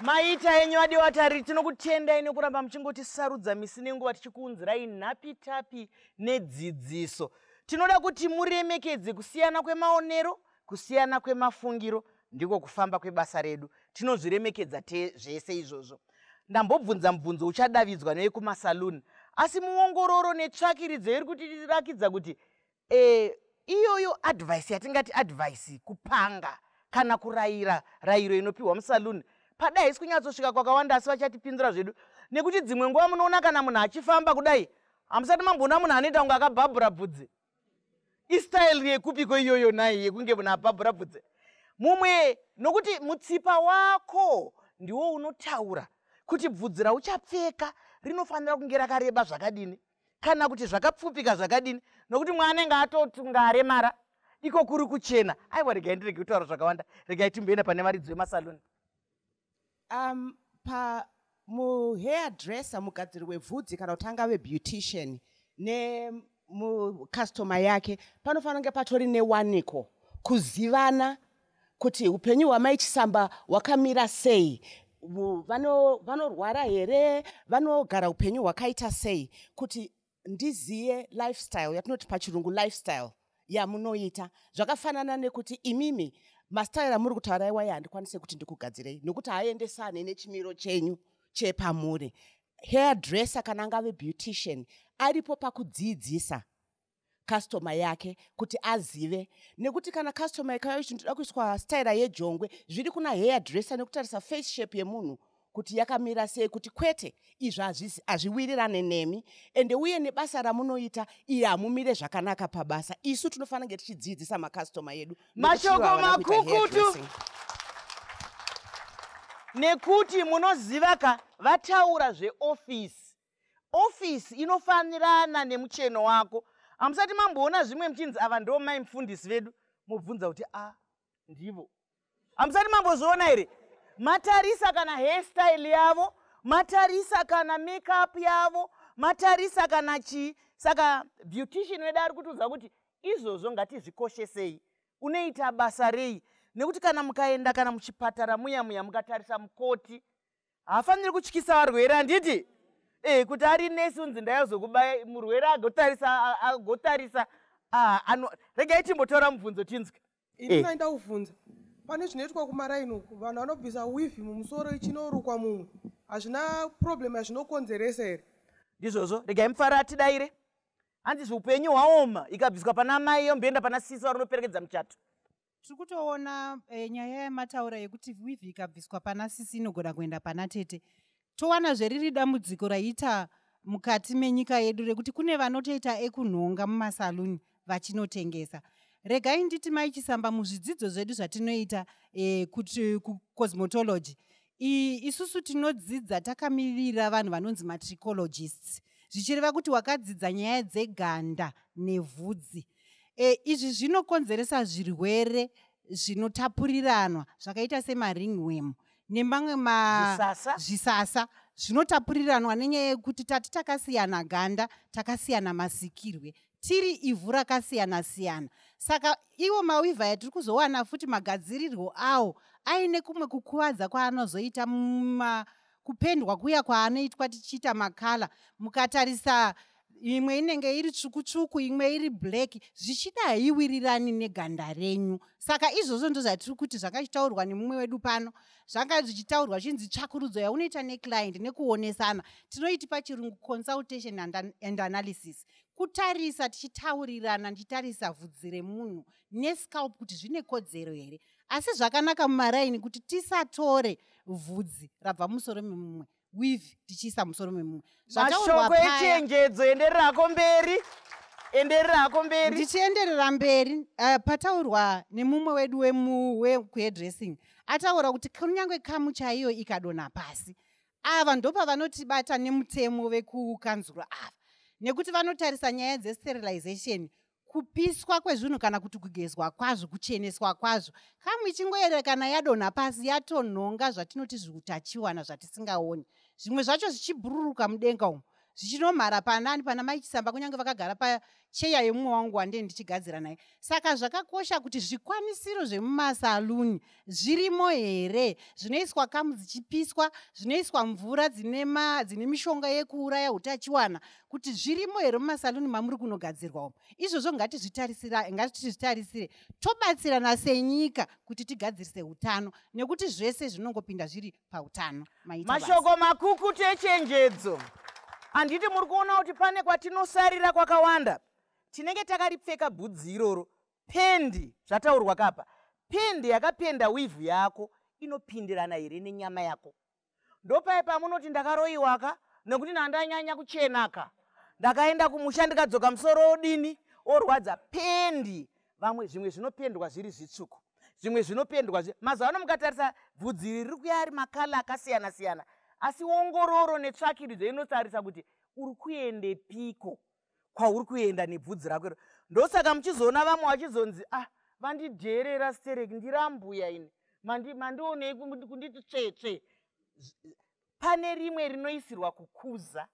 maita enyu adi watari tinokutendai nekuramba muchingotisarudza misi nenguva tichikuunzirai nhapitapi nedzidziso tinoda kuti muremekedze kusiyana kwemaonero Kusiyana kwemafungiro ndiko kufamba kwebasa redu. Tinozviremekedza te zvese izvozvo. Ndambobvunza mubvunzo uchadavidzwa newekumasaloon asi muongororo netsvakiridzo iri kutirakidza kuti e, iyoyo advice yatingati advice kupanga kana kurayira rayiro inopiwa musaloon padai haisi kunyatsosvika kwakawanda asi vachatipindura zvedu nekuti dzimwe nguva munoona kana munhu achifamba kudai hamusati mamboona munhu anoita kunge akabhabhura bvudzi istyle yekupiko iyoyo nai yekunge munhu apabura bvudze mumwe nokuti mutsipa wako ndiwo unotaura kuti bvudzi rauchapfeka rinofanira kunge rakareba zvakadini kana kuti zvakapfupika zvakadini nokuti mwaanenge atotunga aremara iko kuri kuchena aiwa regai ndirege kutaura zvakawanda regai timboenda pane varidzi vemasaloni Um, pa muhair dresser mugadziri webvudzi kana kuti angave beautician nemucustomer yake panofanira kunge patori newaniko kuzivana kuti upenyu hwamai chisamba hwakamira sei vanorwara here vanogara upenyu hwakaita sei kuti ndiziye lifestyle yatinoti pachirungu lifestyle yamunoita zvakafanana nekuti imimi mastyle amuri kutaura iwaye handikwanise kuti ndikugadzirei nokuti haaendesane nechimiro chenyu chepamuri hair dresser kana angave beautician aripo pakudziidzisa customer yake kuti azive nekuti kana customer ikauya ichiti ndoda kuiswa styra yejongwe zviri kuna hair dresser nekutarisa face shape yemunhu kuti yakamira sei kuti kwete izvi hazvisi hazviwirirane nemi ende uye nebasa ramunoita iye hamumire zvakanaka pabasa isu tinofanira kunge tichidziidzisa makastoma yedu mashoko makukutu nekuti munoziva ka vataura zveofisi ofisi inofanirana nemucheno wako hamusati mamboona zvimwe muchinzi ava ndo mai mufundisi vedu mobvunza kuti a ah, ndivo hamusati mambozviona here matarisa kana hairstyle yavo matarisa kana makeup yavo matarisa kana chii saka beautician wedu ari kutiudza kuti izvozvo ngatizvikoshesei unoita basa rei nekuti kana mukaenda kana muchipatara muya muya mukatarisa mukoti haafaniri kutyisa varwere handiti e kuti ari nesi unzi ndayazokubaya murwere agotarisa agotarisa ah, regai timbotora mubvunzo tinzwe ini eh. nainda kuvhunza pane zvinoitwa kumaraini uku vanhu vanobvisa wivhi mumusoro ichinorukwa mumwe hazvina problem yazvinokonzeresa here ndizvozvo regai mufaro atidaire hanzi zviupenyu hwaoma ikabviswa pana amai yomboenda pana sisi varinoperekedza muchato tiri kutoona e, nyaya yamataura yekuti wivhi ikabviswa pana sisi inogona kuenda pana tete towanazve riri dambudziko raita mukati menyika yedu rekuti kune vanotoita ekunhonga mumasaluni vachinotengesa regai nditi mai chisamba muzvidzidzo zvedu zvatinoita e, kuti kucosmetology isusu tinodzidza takamirira vanhu vanonzi matricologists zvichireva kuti wakadzidza nyaya dzeganda nevhudzi e, izvi zvinokonzeresa zvirwere zvinotapuriranwa zvakaita semaringwemu nemamwe mazvisasa zvinotapuriranwa nenyaya yekuti tati takasiyana ganda takasiyana masikirwe tiri ivhu rakasiyana siyana saka iwo mawivha yatiri kuzowana futi magadzirirwo awo aine kumwe kukuvadza kwaanozoita muma kupendwa kuya kwaanoitwa tichiita makala mukatarisa imwe inenge iri tsvuku tsvuku imwe iri black zvichida haiwirirani neganda renyu saka izvozvo ndozvatiri kuti zvakachitaurwa nemumwe wedu pano zvanga zvichitaurwa zvinzi tsvakurudzo yaunoita neclient nekuonesana tinoiti pachirungu consultation and analysis kutarisa tichitaurirana ndichitarisa vhudzi remunhu nescalp kuti zvine kodzero here asi zvakanaka mumaraini kuti tisatore vhudzi rabva musoro memumwe weave tichiisa musoro memumwe mashoko echenjedzo endererako mberi endererako mberi ndichienderera mberi uh, pataurwa nemumwe wedu wekuhedressing ataura kuti kunyange kamu chaiyo ikadonha pasi ava ndopavanotibatsa nemutemo vekukanzuro ava nekuti vanotarisa nyaya dzesterilization kupiswa kwezvinhu kana kuti kugezwa kwazvo kucheneswa kwazvo kamwe ichingoerekana yadonha pasi yatonhonga zvatinoti zviutachiwana zvatisingaoni zvimwe zvacho zvichibhururuka mudenga umo zvichinomhara panani pana maichisamba kunyange vakagara pacheya yemumwe wangu wandee ndichigadzira naye saka zvakakosha kuti zvikwanisiro zvemumasaluni zvirimo here zvinoiswa kamu dzichipiswa zvinoiswa mvura dzine ma dzine mishonga yekuuraya utachiwana kuti zvirimo here mumasaluni mamuri kunogadzirwa umo izvozvo ngatizvitarisira ngatizvitarisire tobatsirana senyika kuti tigadzirise utano nekuti zvese zvinongopinda zviri pautano mashoko makukutu echenjedzo handiti muri kuona kuti pane kwatinosarira kwakawanda tinenge takaripfeka bhudzi iroro Pendi, zvataurwa kapa. Pendi yakapenda wivhu yako inopindirana here nenyama yako? Ndopaye pamunoti ndakaroiwa ka nekuti ndandanyanya kuchena ka. Ndakaenda kumusha ndikadzoka musoro odini orwadza pendi. Vamwe zvimwe zvinopendwa zviri zvitsvuku zvimwe zvinopendwa zvi mazuva ano mukatarisa bvudzi riri kuya ari makala akasiyana siyana asi ongororo netsvakiridzo inotarisa kuti uri kuendepiko kwauri kuenda nebvudzi rako iro ndosaka muchizoona vamwe vachizonzi ah vandidheerera sterek ndirambuya ini mandionei kunditi tsvetsve pane rimwe rinoisirwa kukuza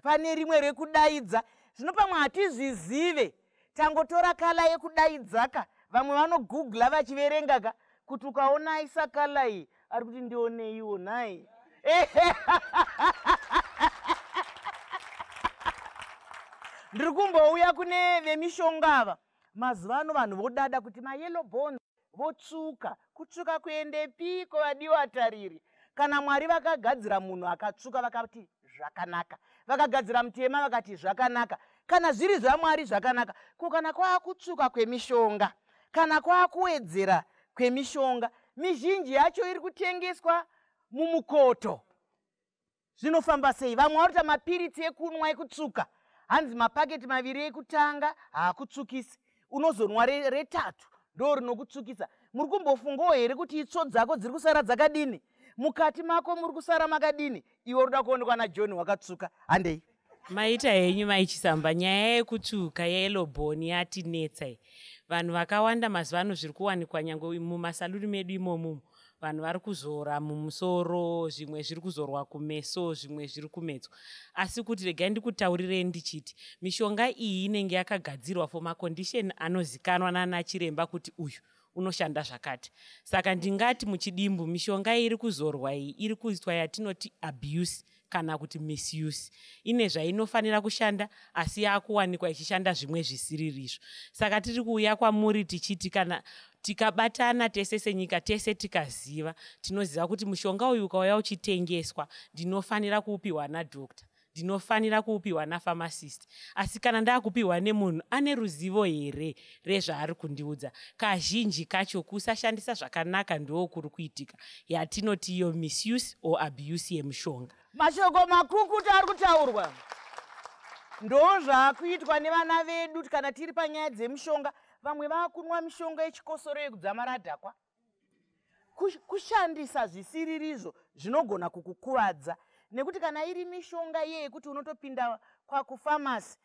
pane rimwe rekudaidza zvino pamwe hatizvizive tangotora kala yekudaidzaka vamwe vanogoogla vachiverengaka kuti ukaona isa kala iyi ari kuti ndioneiwo nhai ndiri kumbouya kune vemishonga ava mazuva ano vanhu vodada kuti mayellow bone votsvuka kutsvuka kuendepiko vadiwa tariri kana mwari vakagadzira munhu akatsvuka vakati zvakanaka vakagadzira mutema vakati zvakanaka kana zviri zvamwari zvakanaka ko kana kwaakutsvuka kwemishonga kana kwava kuwedzera kwemishonga mizhinji yacho iri kutengeswa mumukoto zvinofamba sei vamwe varota mapiritsi ekunwa ekutsuka hanzi mapaketi maviri ekutanga haakutsukisi unozonwa retatu ndo rinokutsukisa muri kumbofungawo here kuti itsvo dzako dziri kusara dzakadini mukati mako muri kusara makadini iwe unoda kuonekwa najohn wakatsvuka handei maita henyu maichisamba nyaya yekutsvuka yeloboni yatinetsai vanhu vakawanda mazuva ano zviri kuwanikwa nyange mumasaluni medu imomumu vanhu vari kuzora mumusoro zvimwe zviri kuzorwa kumeso zvimwe zviri kumedzwa asi kuti regai ndikutaurirei ndichiti mishonga iyi inenge yakagadzirwa for macondishon anozikanwa nanachiremba kuti uyu unoshanda zvakati saka ndingati muchidimbu mishonga iri kuzorwa iyi iri kuitwa yatinoti abuse kana kuti misuse ine zvainofanira kushanda asi yakuwanikwa ichishanda zvimwe zvisiririzvo saka tiri kuuya kwamuri tichiti kana tikabatana tese senyika tese tikaziva tinoziva kuti mushonga uyu ukauya uchitengeswa ndinofanira kuupiwa nadoctor ndinofanira kuupiwa nafamasist asi kana ndaakupiwa nemunhu ane ruzivo here rezvaari kundiudza kazhinji kacho kusashandisa zvakanaka ndoo kuri kuitika yatinoti iyo misuse or abuse yemushonga mashoko makukutu ari kutaurwa ndo zvaakuitwa nevana vedu kana tiri panyaya dzemushonga vamwe vakunwa mishonga yechikosoro yekudzamara adhakwa kushandisa zvisiririzvo zvinogona kukukuvadza nekuti kana iri mishonga iye yekuti unotopinda kwakufamasi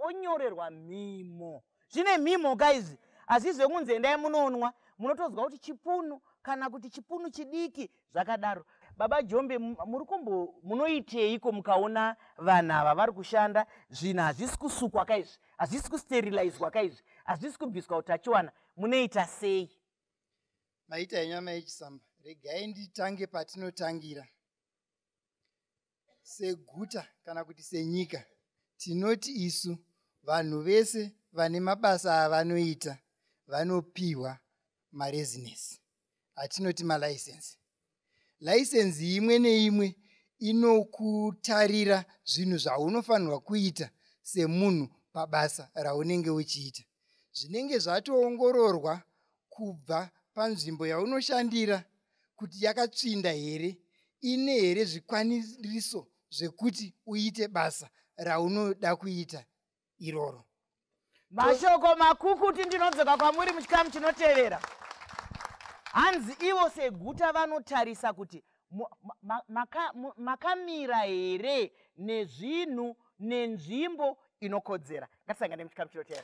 onyorerwa mhimo zvine mhimo guys hazvizi vekunzi endai munonwa munotonzwa kuti chipunu kana kuti chipunu chidiki Zvakadaro baba Jombe muri kumbo munoiteiko mukaona vanhu ava vari kushanda zvinhu hazvisi kusukwa ka izvi hazvisi kusterilizwa ka izvi hazvisi kubviswa utachiwana munoita sei? Maita henyu amai Chisamba regai nditange patinotangira. seguta kana kuti senyika tinoti isu vanhu vese vane mabasa avanoita vanopiwa maresinesi atinoti malaisensi laisensi imwe neimwe inokutarira zvinhu zvaunofanirwa kuita semunhu pabasa raunenge uchiita zvinenge zvatoongororwa kubva panzvimbo yaunoshandira kuti yakatsvinda here ine here zvikwaniriso zvekuti uite basa raunoda kuita iroro mashoko makukuti ndinodzoka kwamuri muchikamu chinotevera hanzi ivo seguta vanotarisa kuti makamira here nezvinhu nenzvimbo inokodzera ngatisangane muchikamu chinoteera